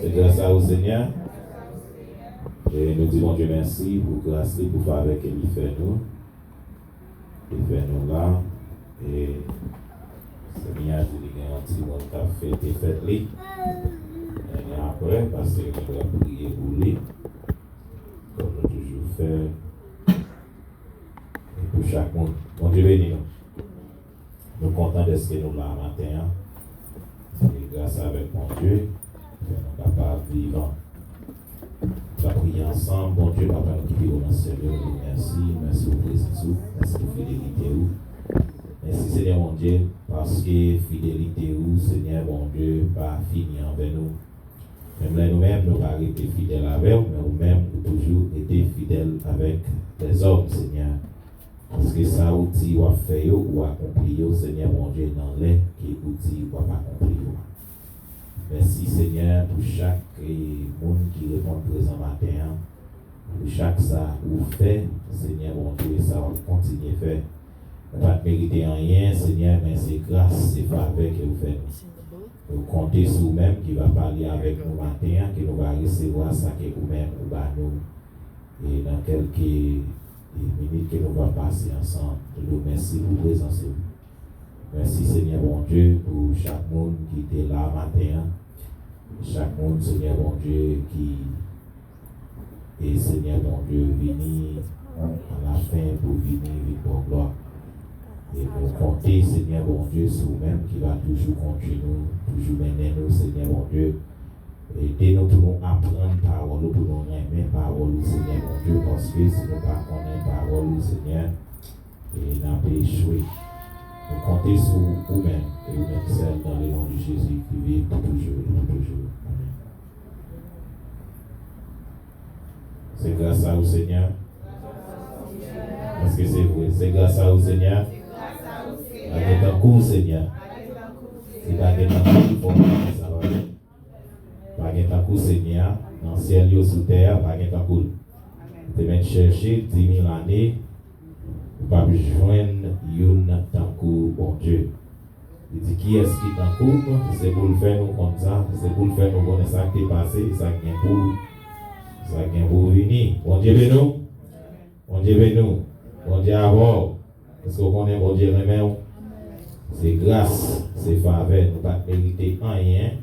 Se gras a ou Senyè. E nou di Bondye mèsi pou gras li, pou favè ke li fè nou. Li fè nou la. E Senyè a di li gen yon timoun k ap fete fèt li. Mwen gen apre, pastè yo pral priye pou li. Kòm nou toujou fè. E pou chak moun. Bondye beni nou. Nou kontan dèske nou la maten an. Se gras avèk Bondye ki fè nou kapab vivan. N ap priye ansanm, Bondye, Papa nou ki pi wo nan syèl yo, nou di w mèsi. Mèsi pou prezans ou. Mèsi pou fidelite ou. Mèsi, Senyè Bondye, paske fidelite ou, Senyè Bondye, pa fini anvè nou. Menm lè nou menm nou pa rete fidèl avè w, men ou menm ou toujou rete fidèl avèk lèzòm, Senyè. Piske sa ou di wap fè yo ou akonpli yo Senyè Bondye nan lè ke ou di wap akonpli yo a. Mèsi Senyè pou chak Moun ki reponn prezan maten an pou chak sa ou fè Senyè Bondye sa wap kontinye fè nou pat merite anyen Senyè men se gras se favè ke ou fè nou nou konte sou ou menm ki va pale avèk nou maten an ke nou va resevwa sa ke ou menm ou ba nou e nan kelke e minit ke nou va pase ansanm toude w mèsi pou prezans ou mèsi Senyè Bondye pou chak moun ki te la maten an chak moun Senyè Bondye ki te Senyè Bondye vini a la fen pou vini vin ba w glwa e nou konte Senyè Bondye sou ou menm ki va toujou kondui nou toujou mennen nou Senyè Bondye. Ede nou pou nou aprann pawòl ou pou nou renmen pawòl ou Senyè Bondye paske si nou pa konnen pawòl ou Senyè e nap echwe nou konte sou ou menm e ou menm sèl dan le non di Jezi ki viv pou toujou e pou toujou amen. Se gras a ou Senyè Èske se vre? Se gras a ou Senyè Pa gen tankou ou Senyè Si ta gen tankou ou fò pase sa pa vre? Pa gen tankou ou Senyè Nan syèl yo sou tè a pa gen tankou l Ou te mèt chèche di mil ane Ou pap jwenn youn tankou Bondye. Li di, Kiyès ki tankou m? Se pou l fè nou konn sa, se pou l fè nou konnen sa k te pase, sa k gen pou, sa k gen pou vini. Bondye beni w! Bondye beni w! Bondye avè w! Èske w konnen Bondye renmen w? Se gras, se favè, nou pa t merite anyen.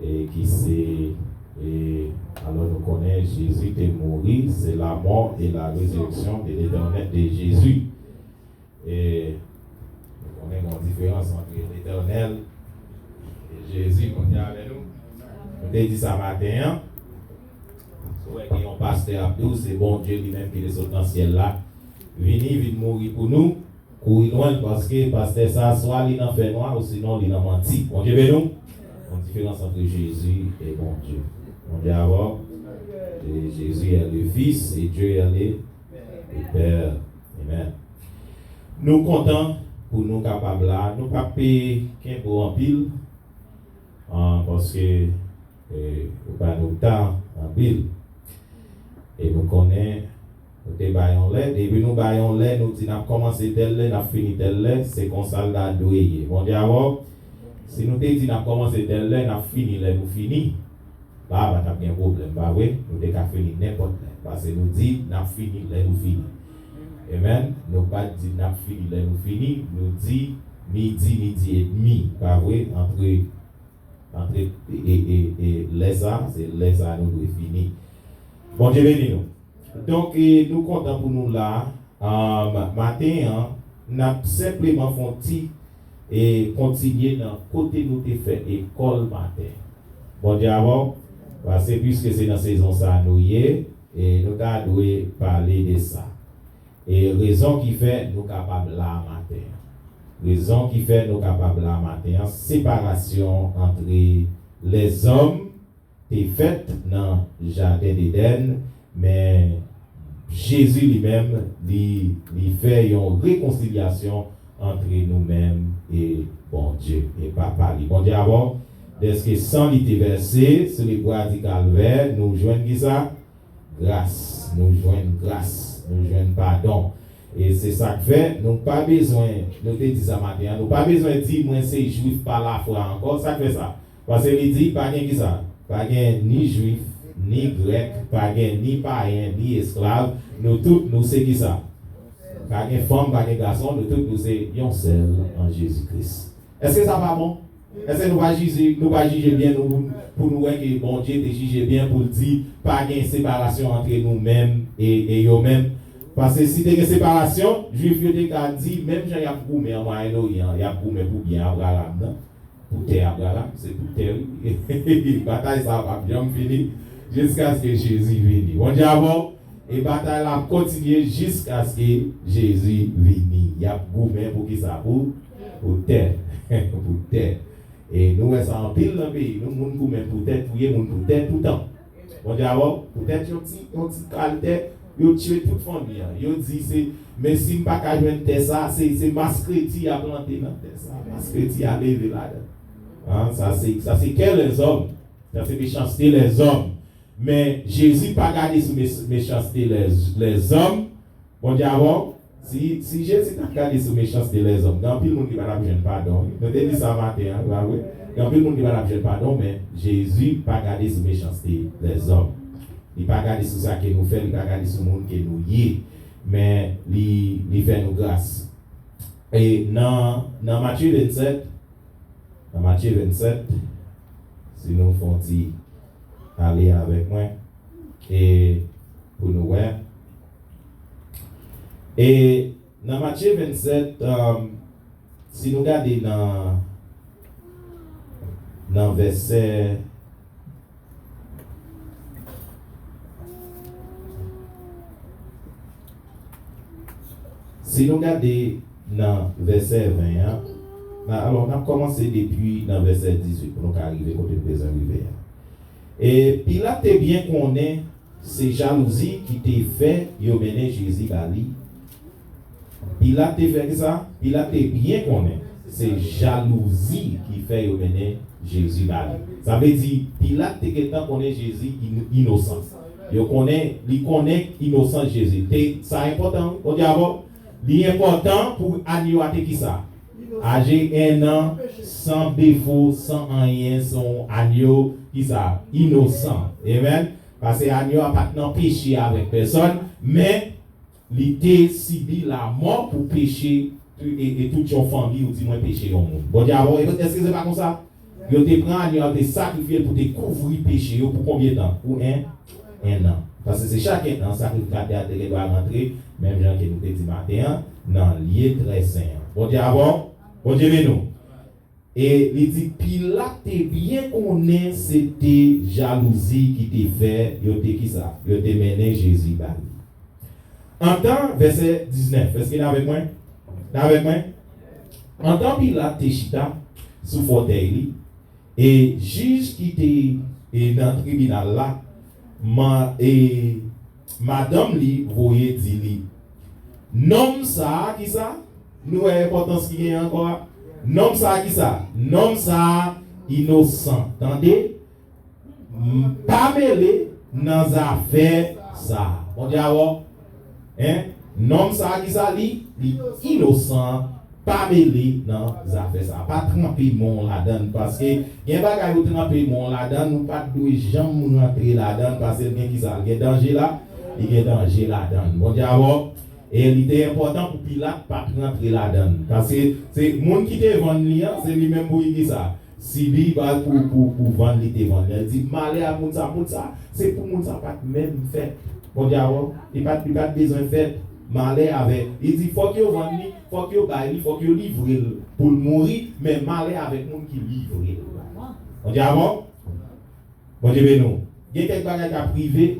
ki se e alò nou konnen Jezi te mouri se la mò e la rezireksyon de letènèl de Jezi e nou konnen gon diferans antre letènèl e Jezi moun ki avè nou nou te di sa maten an ou wè gen yon pastè ap di w se Bondye li menm ki te sot nan syèl la vini vin mouri pou nou Kouri lwenl paske pastè sa swa li nan fè nwa ou sinon li nan manti bondye beniw gon diferans antre jezi e bondye bondye avèw e jezi è le fis e dye è le pè amen nou kontan pou nou kapab la nou pap kenbe w anpil paske Ou ba nou tan anpil. E nou konnen nou te bay yon lè. Depi nou bay yon lè, nou di n ap kòmanse tèl lè, n ap fini tèl lè. Se konsa l ta dwe ye. Bondye avè w. Si nou te di n ap kòmanse tèl lè, n ap fini lè nou fini, la a pa t ap gen pwoblèm, pa vre? Nou te ka fini nenpòt lè. Pase nou di n ap fini lè nou fini. Amen. Nou pa t di n ap fini lè nou fini. Nou di midi, midi edmi. Pa vre? Antre. Antre e lè sa se lè sa nou dwe fini Bondye beni nou donk nou kontan pou nou la maten an nap senpleman fon ti e kontinye nan kote nou te fè ekòl maten Bondye avèw pase pwiske se nan sezon sa nou ye e nou ta dwe pale de sa. E rezon ki fè nou kapab la a maten an. Rezon ki fè nou kapab la a maten an, separasyon antre lèzòm te fèt nan jaden Dedèn, men Jezi li menm li fè yon rekonsilyasyon antre nou menm e Bondye, e Papa li. Bondye avè w. Dèske san li te vèse sou lekwa di Kalvè, nou jwenn kisa? Gras, nou jwenn gras, nou jwenn padon. E se sa k fè, nou pa bezwen, nou te di sa maten an, nou pa bezwen di, Mwen se Juif pa lafwa ankò. Sa k fè sa? Paske li di, Pa gen kisa? Pa gen ni Juif, ni Grèk, pa gen ni payen, ni esklav, nou tout nou se kisa? Pa gen fanm, pa gen gason, nou tout nou se yon sèl an Jezi Kris. Èske sa pa bon? Èske nou pa jije, nou pa jije byen nou pou nou wè ke Bondye te jije byen pou l di pa gen separasyon antre nou menm e e yo menm? Paske si te gen separasyon, Juif yo te ka di, menm jan y ap goumen an Mwayenn Oryan an, y ap goumen pou byen Abraram nan, pou tè Abraram, se pou tè l, e batay sa a p ap janm fini jiskaske Jezi vini. Bondye avè w, e batay la ap kontinye jiskaske Jezi vini. Y ap goumen pou kisa? Pou. Pou tè. Pou tè. E nou wè sa anpil nan peyi nou, moun goumen pou tè, touye moun pou tè toutan. Bondye avè w. Pou tèt yon ti, yon ti kal tè, yo tiye tout fanmi an. Yo di se, men si m pa ka jwenn tè sa, se, se maskreti y a plante nan tè sa. Maskreti y a leve ladan l. An, sa se, sa se kè lèzòm. Sa se mechanste lèzòm. Men, Jezi pa gade sou mes, mechanste lèz, lèzòm. Bon dyabò, si, si Jezi t'ap gade sou mechanste lèzòm, gen anpil moun ki pa t'ap jwenn padon wi. Nou te di sa maten an, pa vre? Gen anpil moun ki pa t'ap jwenn padon, men Jezi pa gade sou mechanste lèzòm. Li pa gade sou sa ke nou fè, li pa gade sou moun ke nou ye, men li, li fè nou gras. E nan, nan Matye 27, nan Matye 27, si nou fè yon ti ale avèk mwen, e pou nou wè. E nan Matye 27, si nou gade nan nan vèsè si nou gade nan vèsè 20 an, nan alò n ap kòmanse depi nan vèsè 18 pou nou ka rive kote n bezwen rive a. E Pilat te byen konnen se jalouzi ki te fè yo mennen Jezi ba li. Pilat te fè kisa? Pilat te byen konnen se jalouzi ki fè yo mennen Jezi ba li. Sa vle di, Pilat te gentan konnen Jezi inosan. Yo konnen, li konnen inosans Jezi. Te, sa enpòtan wi. Bon Dye avè w. Li enpòtan pou agneau a te kisa? Aje 1 nan, san defo, san anyen, se yon anyo, kisa? Inosan. Amen. Pase anyo a pat nan peche avèk pèsòn, men li te sibi lamò pou peche e tout yon fanmi ou di mwen peche yon moun. Bondye ap. Eske se pa konsa? Yo te pran agno a te sakrifye l pou te kouvri peche yo pou konbyen tan? Pou 1 ennan. Paske se chak 1 an sakrify kate a te gen dwa rantre, menm jan ke nou te di maten an, nan lye trè sen an. Bondye avè w? Bondye beni w. E li di, Pilat te byen konnen se te jalouzi ki te fè yo te kisa? Yo te mennen Jezi ba li. Antan, vèsè 19, èske n avèk mwen? N avèk mwen? Antan Pilat te chita sou fòtèy li e jij ki te nan tribinal la, man e madanm li voye di li, Nonm sa a ki sa? Nou wè enpòtans ki genyen ankò a? Nonm sa a ki sa? Nonm sa a inosan. Tande! M pa mele nan zafè sa. Bon dyawò hein nonm sa ki sa li li inosan pa mele nan zafè sa pa tranpe men w ladann paske gen bagay ou tranpe men w ladann ou pat dwe janm rantre ladann pase l gen ki sa l gen danje la li gen danje ladann bon dyawò e li te enpòtan pou pilat pat rantre ladann paske se moun ki te vann li an se li menm pou ki sa. Sibi bal pou pou pou vann li te vann lèl di malè a moun sa moun sa se pou moun sa pat menm fèt bondye awò li pat li pat bezwen fèt malè avè li di fòk yo vann li fòk yo bay li fòk yo livrel poul mouri men malè avèk moun ki livrel bay bondye avò bondye beni w gen kèk bagay kap rive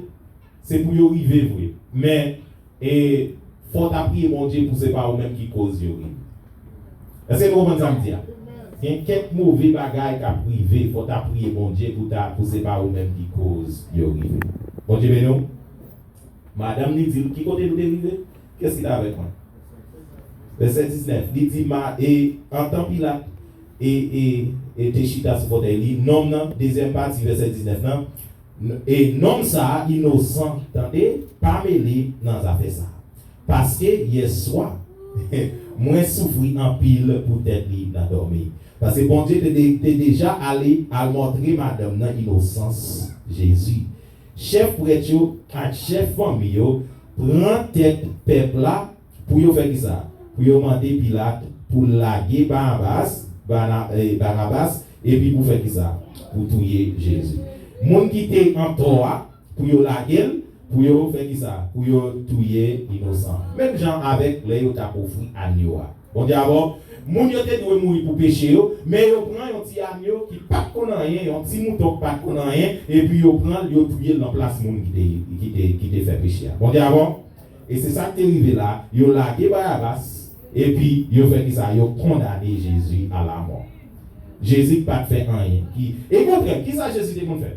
se pou yo rive vre men. E fò w ta priye Bondye pou se pa ou menm ki koz yo rive. Èske nou konprann sa m di a? Gen kèk move bagay k ap rive, fò w ta priye Bondye pou ta pou se pa ou menm ki koz yo rive. Bondye beni w. Madanm li di l, ki kote nou te rive? Kiyès ki t avèk mwen? Vèsè 19, li di, Ma, e, antan Pilat, e, e, e te chita sou fotèy li, nonm nan, dezyèm pati vèsè 19 nan, E nonm sa inosan tande pa mele nan zafè sa paske yè swa mwen soufri anpil pou tèt li nan dòmi paske Bondye te deja ale al montre madanm nan inosans Jezi chèf prèt yo ak chèf fanmi yo pran tèt pèp la Pou yo fè kisa? Pou yo mande Pilat pou l lage Barabas, Bana, e, Barabas, epi pou fè kisa? Pou touye Jezi. Moun ki te antò a, pou yo lage l, pou yo fè kisa? Pou yo touye inosan. Menm jan avèk lè yo t ap ofri anyo a. Bondye avè w. Moun yo te dwe mouri pou peche yo, men yo pran yon ti anyo ki pa t konn anyen, yon ti mouton ki pa t konn anyen, epi yo pran l, yo touye l nan plas moun ki te, ki te, ki te fè peche a. Bondye avè w. E se sa k te rive la, yo lage Barabas, epi yo fè kisa? Yo kondane Jezi a lamò. Jezi ki pa t fè anyen ki. Okontrè, kisa Jezi te konn fè?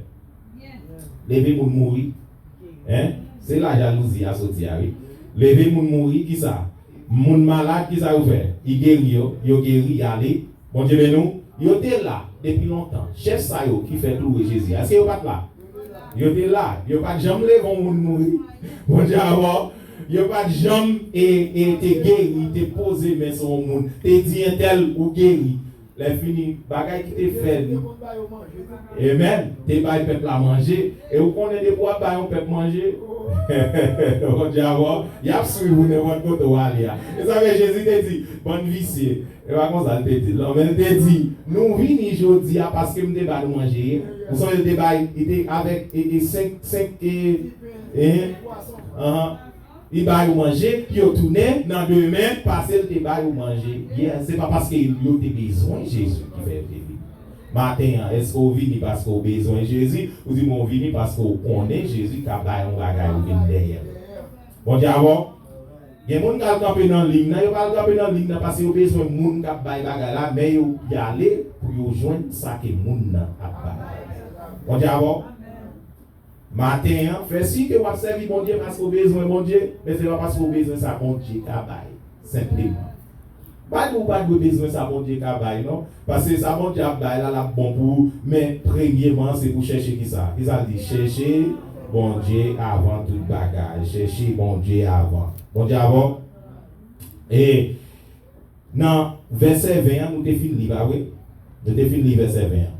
Leve moun mouri. Hein? Se la jalouzi a soti a wi. Leve moun mouri, kisa? Moun malad, kisa yo fè? Li geri yo, yo geri, y ale. Bondye beni w. Yo te la depi lontan. Chèf sa yo ki fè kloure Jezi a, èske yo pa t la? Yo te la. Yo pa t janm leve yon moun mouri. Bondye avè w. Yo pa t janm e, e, te geri, te poze men sou yon moun, te di entèl, Ou geri. Lèfini, bagay ki te fè li. Amen. Te bay pèp la manje. E ou konnen depi w ap bay yon pèp manje, Bondye avè w, y ap suiv ou nenpòt kote ou ale a. Se sa k fè Jezi te di, Bann visye. E pa konsa l te di l non, men l te di, Nou vini jodi a paske m te ba nou manje e. Ou sonje l te bay, li te avèk e, e senk, senk e, e, anhan, li ba yo manje, pi yo tounen nan demen pase l te ba yo manje yè. Se pa paske yo te bezwen Jezi ki fè yo te vini. Maten an, èske w vini paske w bezwen Jezi? Ou di mwen w vini paske w konnen Jezi ka bay yon bagay ou vin dèyè l. Bondye avè w. Gen moun kal kanpe nan ligne nan yo pa al kanpe nan ligne nan pase yo bezwen moun kap bay bagay la men yo yale pou yo jwenn sa ke moun nan ap bay. Bondye avè w maten an fè siy ke wap sèvi Bondye paske w bezwen Bondye men se pa paske w bezwen sa Bondye ka bay senpleman. Badi ou pa dwe bezwen sa Bondye ka bay non, paske sa Bondye ap bay la lap bon pou ou, men premyeman se pou chèche kisa? Kisa l di? Chèche Bondye avan tout bagay, chèche Bondye avan. Bondye avan w? E nan vèsè 20 an nou te fin li pa vre? Nou te fin li vèsè 20 an.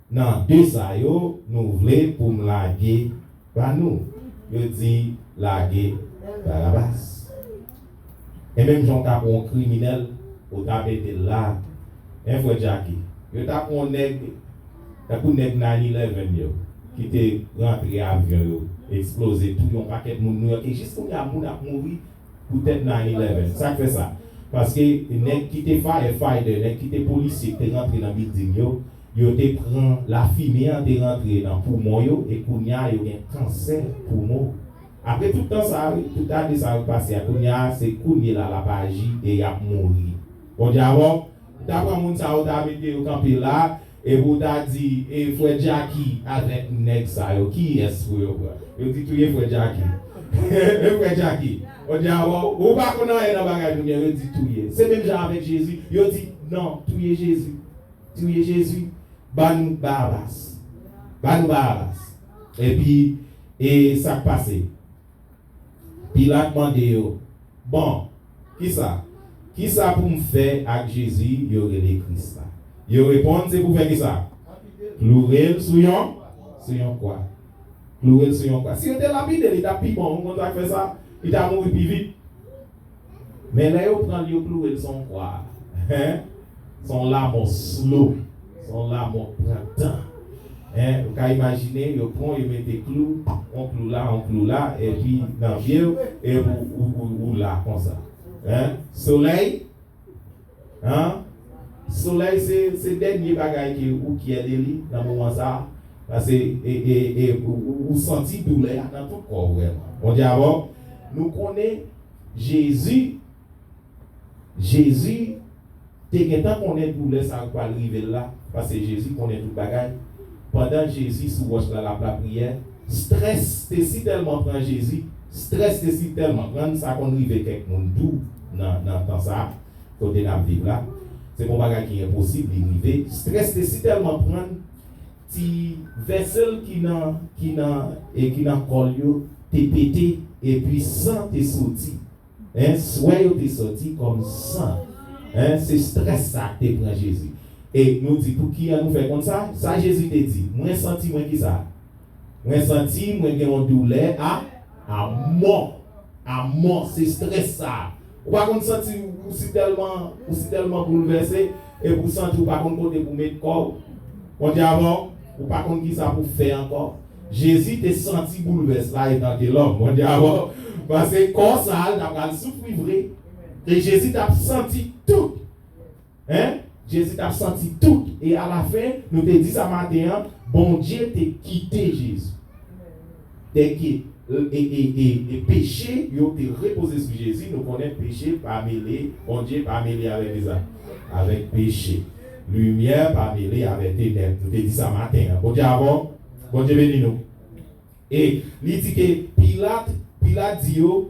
Nan de sa yo nou vle pou m lage ba nou? Yo di, Lage Barabas. E menm jan w ta pran yon kriminèl, ou ta mete l la, hein, frè Jacky? Yo ta pran yon nèg tankou nèg 9-11 yo, ki te rantre avyon yo eksploze touye yon pakèt moun Nouyòk e jis kounye a moun ap mouri Poutèt 9-11. Sa k fè sa? Paske nèg ki te firefighters, nèg ki te polisye ki te rantre nan bilding yo, yo te pran, lafime an te rantre nan poumon yo e kounye a yo gen kansè poumon. Apre tout tan sa a wi, tout ane sa yo k pase a, kounye a se kounyela l ap aji e y ap mouri. Bondye a bon. Ou ta pran moun sa a ou ta mete yo kanpe la. Epi w ta di e frè Jacky avèk nèg sa yo kiyès pou yo pran? Yo di touye frè Jacky. E frè Jacky? Ou di a bon, ou pa konn anyen nan bagay moun yo, yo di touye. Se menm jan avèk Jezi, yo di non, touye Jezi. Touye Jezi. Ban nou Barabas. Ban nou Barabas. Epi e sa k pase? Pilat mande yo, Bon, ki sa? Ki sa pou m fè ak Jezi yo rele Kris la? Yo reponn, Se pou fè ki sa? Kloure l sou yon sou yon kwa. Kloure l sou yon kwa. Si yo te lapide l, li t ap pi bon. Ou konn sa k fè sa? Li ta mouri pi vit. Men lè yo pranl yo klouwel sou yon kwa hein se yon lamò slow se yon lamò k pran tan hein ou ka imajine yo pranw yo mete klou yon klou la yon klou la epi nan pyew epi ou la konsa hein solèy hein solèy se dènye bagay ke ou pyè de li nan moman sa pase ou santi doulè a nan tout kòw vrèman Bondye avèw nou konnen Jezi Jezi te gentan konnen doulè sa k pral rive l la, paske Jezi konnen tout bagay. Pandan Jezi sou wòch la l ap lapriyè, strès te si tèlman pran Jezi, strès te si tèlman pran l, sa konn rive kèk moun tou nan nan tan sa a, kote n ap viv la. Se pa yon bagay ki enposib, li rive. Strès te si tèlman pran l. Ti vessel ki nan ki nan e ki nan kòl yo te pete epi san te soti hein swè yo te soti kòm san hein se strès sa te pran Jezi e nou di pouki an nou fè konn sa sa Jezi te di mwen santi mwen kisa mwen santi mwen gen yon doulè a a mò a mò se strès sa ou pa konn santi ou si tèlman ou si tèlman boulvèse. Epi ou santi ou pa konn kote pou met kò ou. Bondye avè w, ou pa konn kisa pou fè ankò. Jezi te santi boulvès la etanke lòm. Bondye avè w. Paske kò sa a l ta pral soufri vre. E Jezi t ap santi tout. Hein? Jezi t ap santi tout. E alafen, nou te di sa maten an, Bondye te kite Jezi. Dèke e peche yo te repoze sou Jezi, nou konnen peche pa mele, Bondye pa mele avè kisa? Avèk peche. Limyè pa mele avè tenèb. Nou te di sa maten an. Bondye avè w? Bondye beni nou. E li di ke Pilat, Pilat di yo,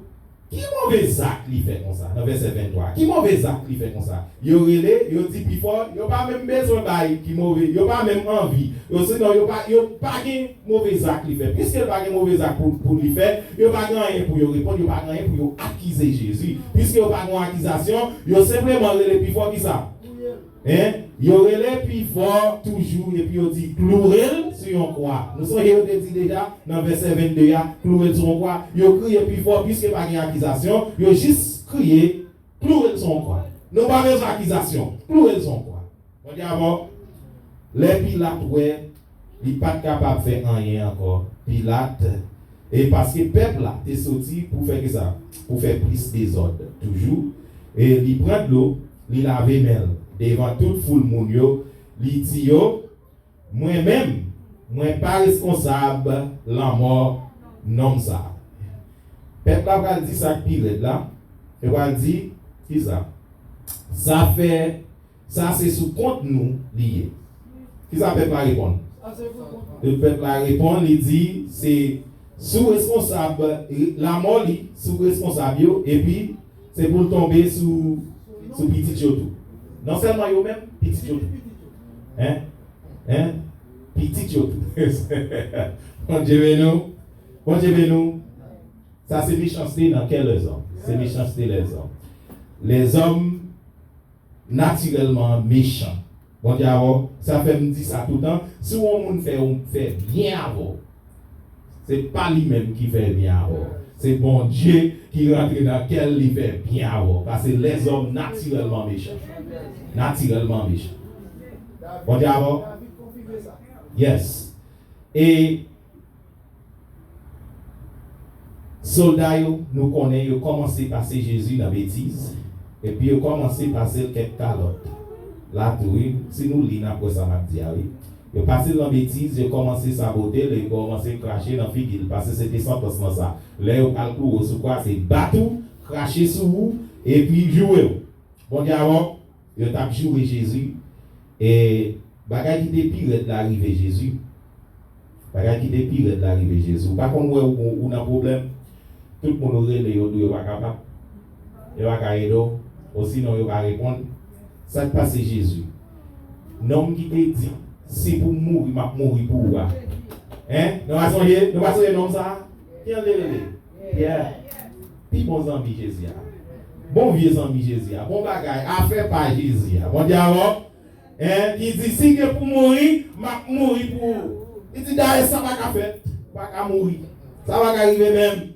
Ki move zak li fè konsa? Nan vèsè 23, ki move zak li fè konsa? Yo rele, yo di pi fò, yo pa menm bezwen bay ki move, yo pa menm anvi, osinon yo pa, yo pa gen move zak li fè. Piske l pa gen move zak pou, pou li fè, yo pa gen anyen pou yo reponn, yo pa gen anyen pou yo akize Jezi. Piske yo pa gen yon akizasyon, yo senpleman rele pi fò, kisa? Touye l! Hein? Yo rele pi fò toujou epi yo di, Kloure l sou yon kwa. Nou sonje yo te di deja nan vèsè 22 a, Kloure l sou yon kwa. Yo kriye pi fò, piske pa gen akizasyon, yo jis kriye, Kloure l sou yon kwa. Nou pa bezwen akizasyon. Kloure l sou yon kwa. Mwen di avè w, lè Pilat wè Li pa t kapab fè anyen ankò. Pilat, E paske pèp la te soti pou fè ki sa? Pou fè plis dezòd toujou. E li pran dlo, li lave men l devan tout foul moun yo, li di yo, Mwen menm, mwen pa reskonsab lanmò nonm sa a. Pèp la pral di sa k pi rèd la, yo pral di, Ki sa sa fè? Sa se sou kont nou li ye. Kisa pèp la reponn? Pèp la reponn li di se sou responsab lamò li sou responsab yo epi se pou l tonbe sou pitit yo tou. Non sèlman yo menm, pitit yo tou. Hein? Hein? Pitit yo tou. Bondye beni w. Bondye beni w. Sa se mechanste nan kè lèzòm. Se mechanste lèzòm. Lèzòm. natirèlman an mechan. Bon Dye avè w. Sa fè m di sa toutan, si yon moun fè yon fè byen avè w, se pa li menm ki fè byen avè w, se Bon Dye ki rantre nan kè l li fè byen avè w, pase lèzòm natirèlman mechan. Natirèlman mechan. Bon Dye avè w. Yes. E. Solda yo, nou konnen yo kòmanse pase Jezi nan betiz, epi yo kòmanse pase l kèk kalòt. La tou wi, si nou li n ap wè sa m ap di a wi. Yo pase l nan betiz, yo kòmanse sabote l e yo kòmanse krache nan figi l, pase se te santans nan sa. Lè yo pral kloure w sou kwa, se bat ou, krache sou ou, epi joure w. Bondye avè w. Yo t ap joure Jezi, e bagay ki te pi rèd la rive Jezi. Bagay ki te pi rèd la rive Jezi. Ou pa konn wè ou nan pwoblèm, tout moun ou rele yo di w yo pa kapab, yo pa ka ede w, osinon yo pa reponn. Sa k pase Jezi? Nonm ki te di, Si pou m mouri, m ap mouri pou ou a. Hein? Nou pa sonje? Nou pa sonje nonm sa a? Ki jan l te rele? Yeah! Pi bon zanmi Jezi a. Bon vye zanmi Jezi a. Bon bagay. Afè pa Jezi a. Bon dyalòg. Hein! Ki di, si gen pou mouri, m ap mouri pou ou. Li di, dayè sa pa ka fèt. Ou pa ka mouri. Sa pa ka rive menm.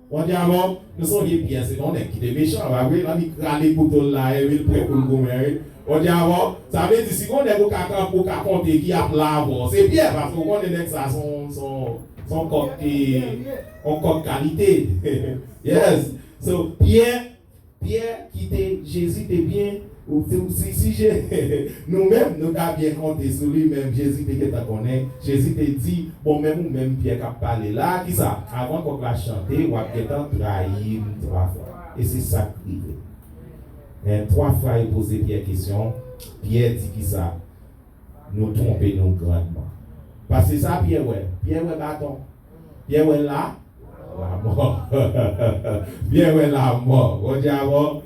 Bon dyalòg. Nou sonje Pyè se t on nèg ki te mechan, pa vre? Lan li t rale kouto l la e wi, l pre pou l goumen wi. Bon dyalòg. Sa vle di, si gen on nèg ou ka kan, ou ka konte ki ap la avè w, se Pyè. Paske ou konnen nèg sa s on, s on, s on kòk ki. On kòk kalite yes so pyè pyè kite jezi te byen ou ti ou si si je nou menm nou ta byen konte sou li menm jezi te gentan konnen jezi te di bon menm ou menm pyè kap pale la kisa avan kòk la chante wap gentan trayim 3 fwa e se sak rive men 3 fwa yo poze pyè kesyon pyè di kisa nou twonpe nou grandman paske sa pyè wè pyè wè baton. Pyè wè la, lamò. Pyè wè lamò. Bondye a bon.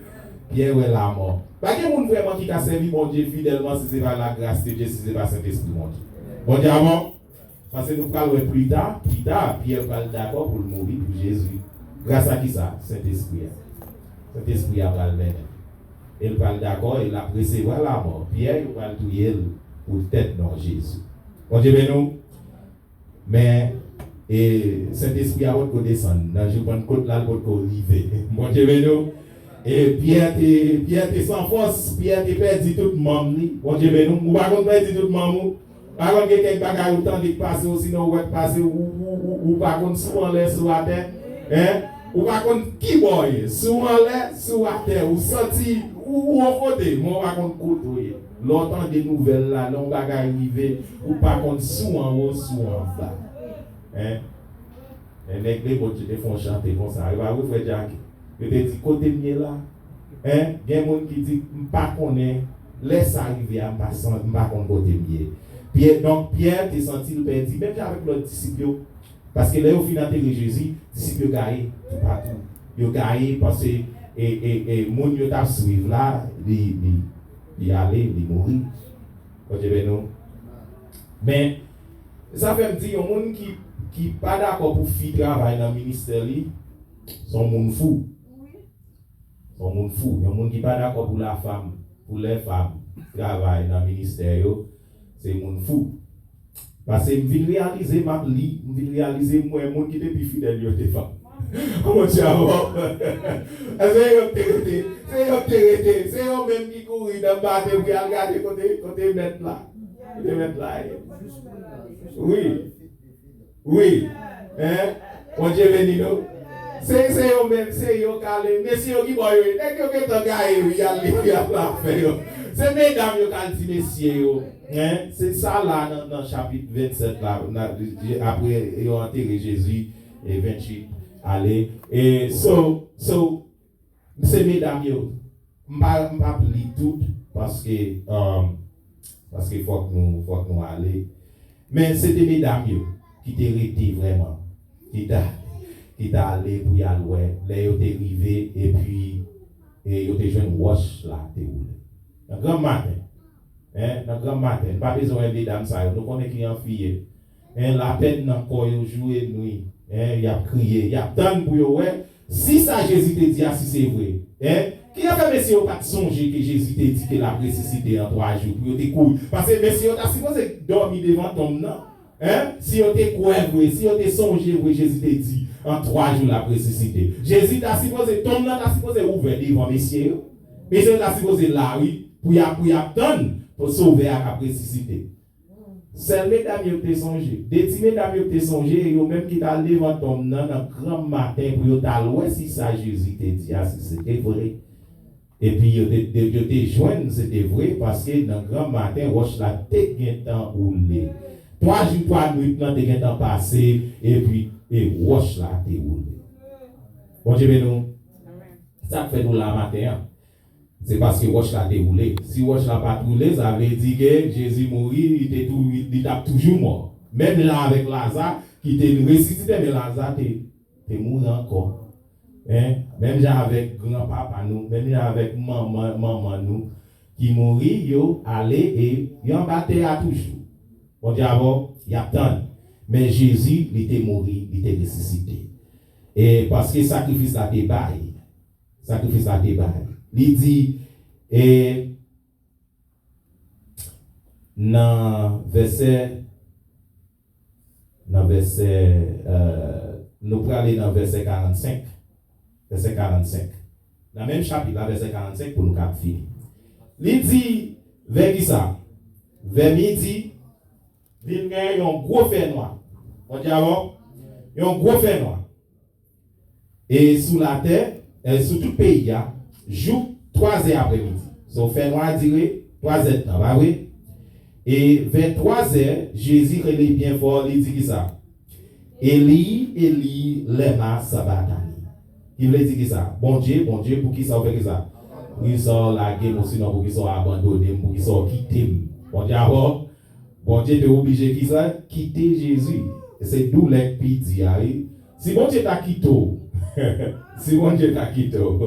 Pyè wè lamò. Pa gen moun vrèman ki ka sèvi Bondye fidèlman si se pa lagras de Dye, si se pa Sentespri Bondye. Bondye a bon. Paske nou pral wè plita, pita, Pyè pral dakò pou l mouri pou Jezi. Grasa kisa? Sentespri a. Sentespri a pral mennen l. E l pral dakò e l ap resevwa lamò. Pyè, yo pral touye l poutèt non Jezi. Bondye beni w. Men, e, Sentespri a potko desann. Nan jou Pannkot la, l potko rive. Bondye beni w. E Pyè te, Pyè te san fòs. Pyè te pèdi tout manm li. Bondye beni w. Ou pa konn pèdi tout manm ou? Pa konn gen kèk bagay ou tande k pase, osinon ou wè k pase, ou, ou, ou, ou, ou pa konn si w anlè, si w atè? Hein? Ou pa konn ki bò w ye, si w anlè, si w atè, ou santi, ou, ou on kote, men ou pa konn kote w ye. Lè w tande nouvèl la, lè yon bagay rive, ou pa konn si w anwo ou si w anba. Hein? Hein, nèg Lemotje te fè yon chante konsa, e pa vre frè Jacky? Yo te di, Kote m ye la? Hein? Gen moun ki di, M pa konnen, lè sa rive a, m pa san, m pa konn kote m ye. Pyè, donk Pyè te santi l pèdi, menm jan avèk lòt disip yo. Paske lè yo fin antere Jezi, disip yo gaye toupatou. Yo gaye pase e, e, e moun yo t ap swiv la, li, li. li ale, li mouri. Bondye beni w. Men, sa fè m di yon moun ki pa dakò pou fi travay nan ministè li, se yon moun fou. Se yon moun fou. Yon moun ki pa dakò pou lafanm, pou lèfanm travay nan ministè yo, Se moun fou. Pase m vin reyalize m ap li, m vin reyalize m wè moun ki te pi fidèl yo te fanm. O mon Dieu a waww. Èske se yo ki te rete? Se yo ki te rete. Se yo menm ki kouri nan bate pou y al gade kote mèt la. Kote mèt la ye. Wi. Wi hein Bondye beni nou. Se se yo menm se yo kale mesye yo kibò yo ye nèg yo gentan gaye wi yal li yal la afè yo se medam yo kal di mesye yo hein se sa la nan nan chapit 27 la nan apre yo antere jezi 28 ale e so so Msi medam yo mpa mpap li tout paske paske fòk nou fòk nou ale men se te medam yo ki te rete vrèman ki ta ki ta ale pou yal wè lè yo te rive epi e yo te jwenn wòch la te woule nan granm maten en nan granm maten nou pa bezwen wè medam sa yo nou konnen ki an fi ye Hein lapèn nan kò yo joure n wi hein yap kriye yap tann pou yo wè si sa Jezi te di a si se vre hein ki afè mesye yo pat sonje ke Jezi te di ke lap resisite an 3 jou pou yo te kouri pase mesye yo ta sipoze dòmi devan tonm nan hein si yo te kwè vre si yo te sonje vre Jezi te di an 3 jou lap resisite Jezi ta sipoze tonm nan ta sipoze ouvè devan mesye yo mesye yo ta sipoze la wi pou yap pou yap tann sovè a kap resisite Sèl medam yo k te sonje. De ti medam yo k te sonje e yo menm ki t al devan tonm nan nan granmmaten pou yo t al wè si sa Jezi te di a si se te vre. Epi yo te yo te jwenn se te vre paske nan granmmaten wòch la te gentan woule. Twa jou twa nuit lan te gentan pase epi e wòch la te woule. Bondye beni w. Sa k fè nou la maten an? Se paske wòch la te woule. Si wòch la pa t woule, sa vle di ke Jezi mouri, li te tou, li t ap toujou mò. Menm jan avèk Laza ki te resisite, men Laza te, te mouri ankò. Men, menm jan avèk granpapa nou, menm jan avèk manman, manman nou ki mouri, yo ale e yo anba tè a toujou. Bondye avè w, y ap tann. Men Jezi, li te mouri, li te resisite. E paske sakrifis la te bay. sakrifis la te bay. Li di, e nan vèsè, nan vèsè, nou prale nan vèsè 45, vèsè 45, nan menm chapit la vèsè 45 pou nou kab fini. Li di, vè ki sa? Vè midi, vin gen yon gwo fènwa. On di alò? Yon gwo fènwa. e sou latè, e sou tout peyi a, jouk twa zè apre midi. So, fènwa a dire twa zèdtan, pa vre? E vè twa zè, Jezi rele byen fò, li di ki sa? Eli, Eli, lèma sabaktani? Ki vle di ki sa? Bondye, Bondye, pou ki sa ou fè ki sa? Pou ki sa ou lage m, osinon pou ki sa ou abandone m, pou ki sa ou kite m? Bon dyabò, Bondye te oblije ki sa? Kite Jezi. Se doulè k pi di a, wi. Si Bondye ta kite w Si Bondye ta kite w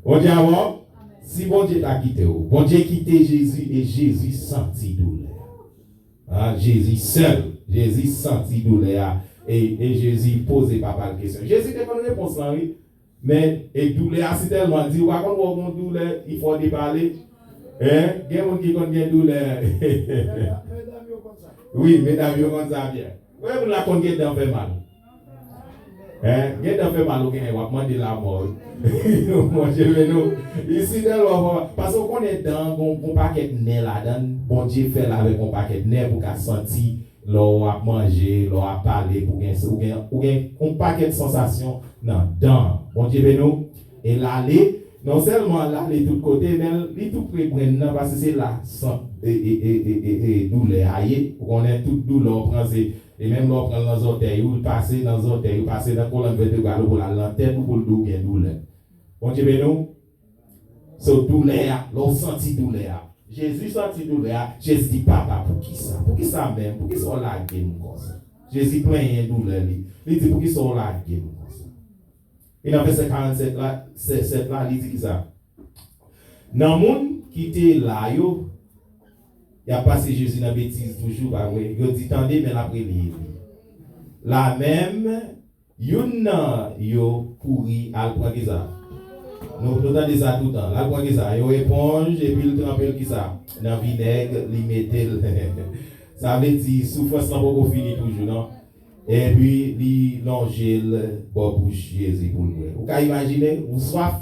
Bon Dye avè w Si Bondye ta kite w Bondye kite Jezi e Jezi santi doulè a Jezi sèl Jezi santi doulè a e Jezi poze papa l kesyon Jezi te konn repons lan wi. Men et doulè a si tèlman di ou pa konn wè w gon doulè il fò w depale hein gen moun ki konn gen doulè wi medam yo konn sa byen konbyen moun la konn gen dan fè mal hein gen dan fè mal ou gen wap mande lamò wi mon Dieu men nou li si tèlman fò paske ou konnen dan gon pakèt nè ladann Bondye fè l avèk yon pakèt nè pou ka santi Lè w ap manje, lè w ap pale pou gen ou gen ou gen yon pakèt sansasyon nan dan an. Bondye beni w e l ale non sèlman l ale tout kote men li tou pre brenn nan paske se la sant e doulè a ye ou konnen tout doulè w pran se e menm lè w pran l nan zòtèy ou l pase nan zòtèy ou pase nan kolòn vètebral ou pou l al nan tèt ou pou l di w gen doulè. Bondye beni w. So doulè a, lè w santi doulè a. Jezi santi doulè a, Jezi di, Papa, poukisa? Poukisa menm? Poukisa w lage m konsa? Jezi plenyen doulè li. Li di, Poukisa w lage m konsa? E nan vèsè 47 la, 7 la, li di kisa? Nan moun ki te la yo, y ap pase Jezi nan betiz toujou, pa vre? Yo di, Tande, men l ap rele Eli. La menm. Youn nan yo kouri al pran Geza. Nou tande sa toutan. L al pran Geza yon eponj epi l tranpe l kisa? Nan vinèg, li mete l. Sa vle di soufrans lan poko fini toujou non. Epi li lonje l bò bouch Jezi pou l bwè. Ou ka imajine? Ou swaf?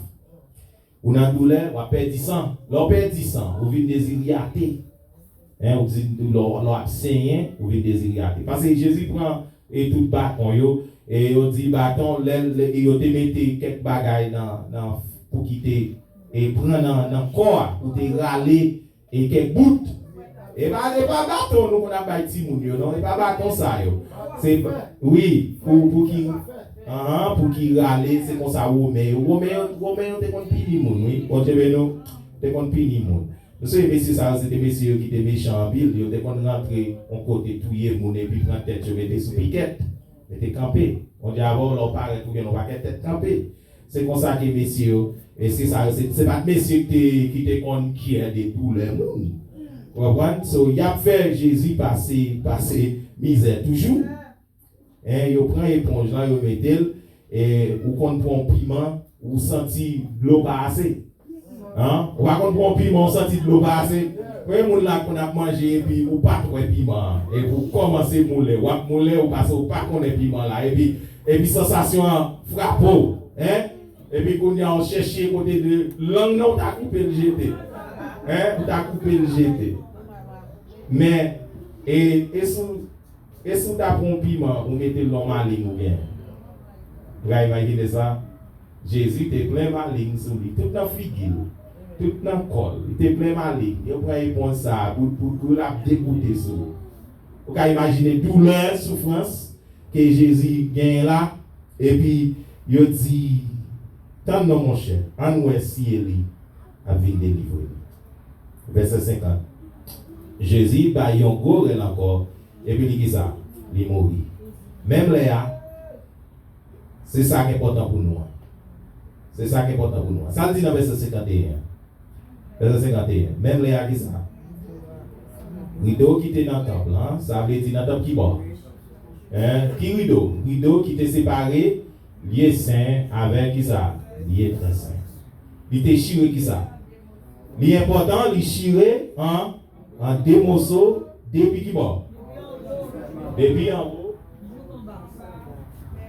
Ou nan doulè, wap pèdi san. Lè w pèdi san, ou vin deziryate. Hein, ou di lè w ap senyen, ou vin deziryate. Pase Jezi pran e tout baton yo, e yo di baton lè yo te mete kèk bagay nan pou ki te e pran nan kò a pou te rale E kèk bout. E pa e pa baton nou konn ap bay timoun yo non e pa baton sa yo se wi pou pou ki anhan pou ki rale se konsa women yo women yo women yo te konn pini moun wi Bondye beni w te konn pini moun m sweye mesye sa yo se te mesye yo ki te mechan anpil yo te konn rantre on kote touye moun epi pran tèt yo mete sou pikèt mete kanpe Bondye avè w lè w parèt ou gen on pakèt tèt kanpe. Se konsa ke mesye yo, mesye sa yo se se pat mesye ki te ki te konn kyè de doulè moun. Ou konprann? So y ap fè Jezi pase pase mizè toujou. Hein yo pran eponj lan yo mete l e ou konn pran yon piman ou santi dlo pa ase. An ou pa konn pran piman ou santi dlo pase konbyen moun la konn ap manje epi ou pat wè piman an epi ou kòmanse moule wap moule ou pase ou pa konnen piman la epi epi sansasyon an frape w hein epi kounya ou chèche kote de lang nan ou ta koupe l jete hein ou ta koupe l jete men e e si w e si w ta pran yon piman ou mete l nan malin ou gen ra imajine sa. Jezi te plen maling sou li, tout nan figi l, tout nan kò l. Li te plen maling. Yo pran eponj sa a bout pou bout, l ap degoute sou l. Ou ka imajine doulè, soufrans ke Jezi genyen la. Epi, yo di, Tann non, monchè, ann wè si Eli ap vin delivre nou. Vèsè 50, Jezi bay yon gwo rèl ankò, epi li ki sa? Li mouri. Menm lè a. Se sa k enpòtan pou nou an. Se sa k enpòtan pou nou an. Sa l di nan vèsè 51 an? Vèsè 51, Menm lè a ki sa? Rido ki te nan tanp lan, sa vle di nan tanp ki bò? Hein? Ki rido? Rido ki te separe lye sen avèk ki sa? Lye trè sen. Li te chire ki sa? Li enpòtan li chire an. An de moso depi ki bò? Depi anwo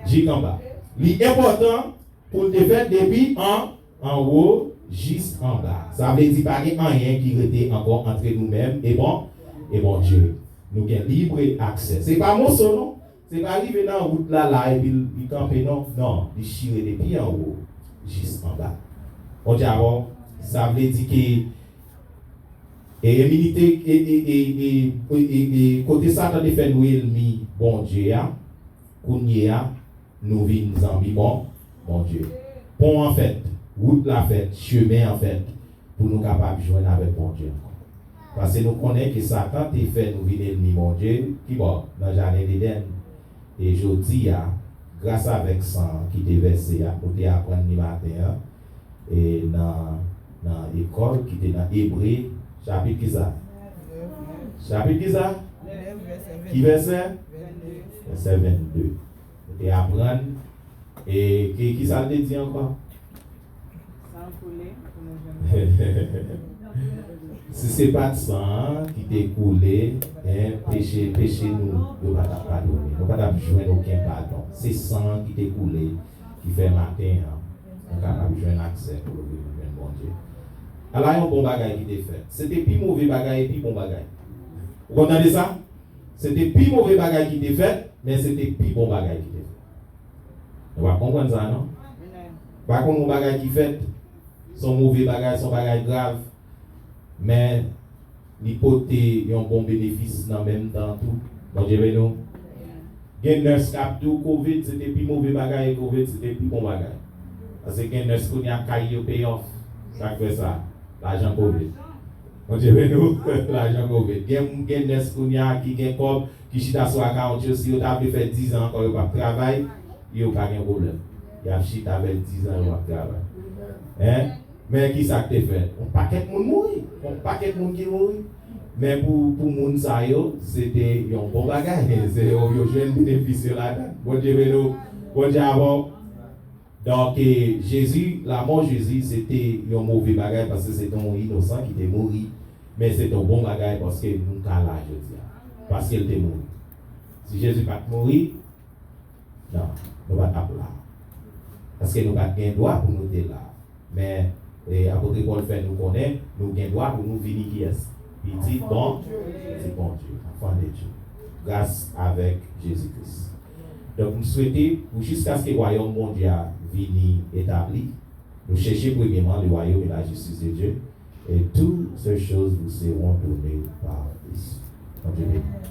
jik anba. Li enpòtan pou l te fèt depi an anwo jis anba. Sa vle di pa gen anyen ki rete ankò antre nou menm e Bon e Bondye. Nou gen libre aksè. Se pa moso non. Se pa rive nan wout la la epi l li kanpe non, non, li chire depi anwo jis anba. Oke alò, sa vle di ke e eminite e e e e e e e kote Satan te fè nou elmi Bondye a, kounyeya nou vin zanmi Bon Bondye. Pon an fèt, wout la fèt, chemen an fèt, pou nou kapab jwenn avèk Bondye ankò. Pase nou konnen ke Satan te fè nou vin elmi Bondye, kibò? Nan Jaden Dedenn. E jodi a, gras avèk san an ki te vèse a, nou te aprann li maten an, e nan, nan ekòl ki te nan Ebre, chapit ki sa? Chapit ki sa? Ki vèsè? Vèsè 22. Nou te aprann, e ki, ki sa l te di ankò? Si se pat san an ki te koule hein peche peche nou yo pa tap padone nou pa tap jwenn oken padon se san an ki te koule ki fè maten an nou kapab jwenn aksè pou love nou jwenn Bondye ala yon bon bagay ki te fèt se te pi move bagay e pi bon bagay ou konn tande sa se te pi move bagay ki te fèt men se te pi bon bagay ki te fèt. Nou pa konprann sa non. M pa konn yon bagay ki fèt, se yon move bagay, se yon bagay grav, men li pote yon bon benefis nan menm tan an tou. Bondye beni w. Gen nurse k ap di w covid se te pi move bagay e covid se te pi bon bagay. Paske gen nurse kounye a kay yo pay off. Sa k fè sa? Lajan covid. Bondye beni w. Lajan covid. Gen nurse kounye a ki gen kòb, ki chita sou akawont yo si yo ta vle fè 10 ans ankò yo pap travay yo pa gen problèm yap chita fè 10 ans yo pap travay hein men kisak te fèt yon pakèt moun mouri yon pakèt moun ki mouri men pou pou moun sa yo se te yon bon bagay se yo yo jwenn benefis yo ladann Bondye beni w Bondye avèw. Donk Jezi, lamò Jezi se te yon move bagay paske se te yon inosan ki te mouri, men se te yon bon bagay paske nou ka la jodi a, paske l te mouri. Si Jezi pa t mouri, nan, nou pa t ap la a, paske nou pa t gen dwa pou nou te la a. Men, apotre Pòl fè nou konnen nou gen dwa pou nou vini kiyès? Pitit bon, pitit Bondye, enfants de Dieu, gras avèk Jezi Kris. Donk, m swete pou jiskaske wayòm Bondye a vini etabli, nou chèche premyeman le royaume et la justice de Dieu, et tout ces choses vous seront donnees par dessus. Bondye beni nou.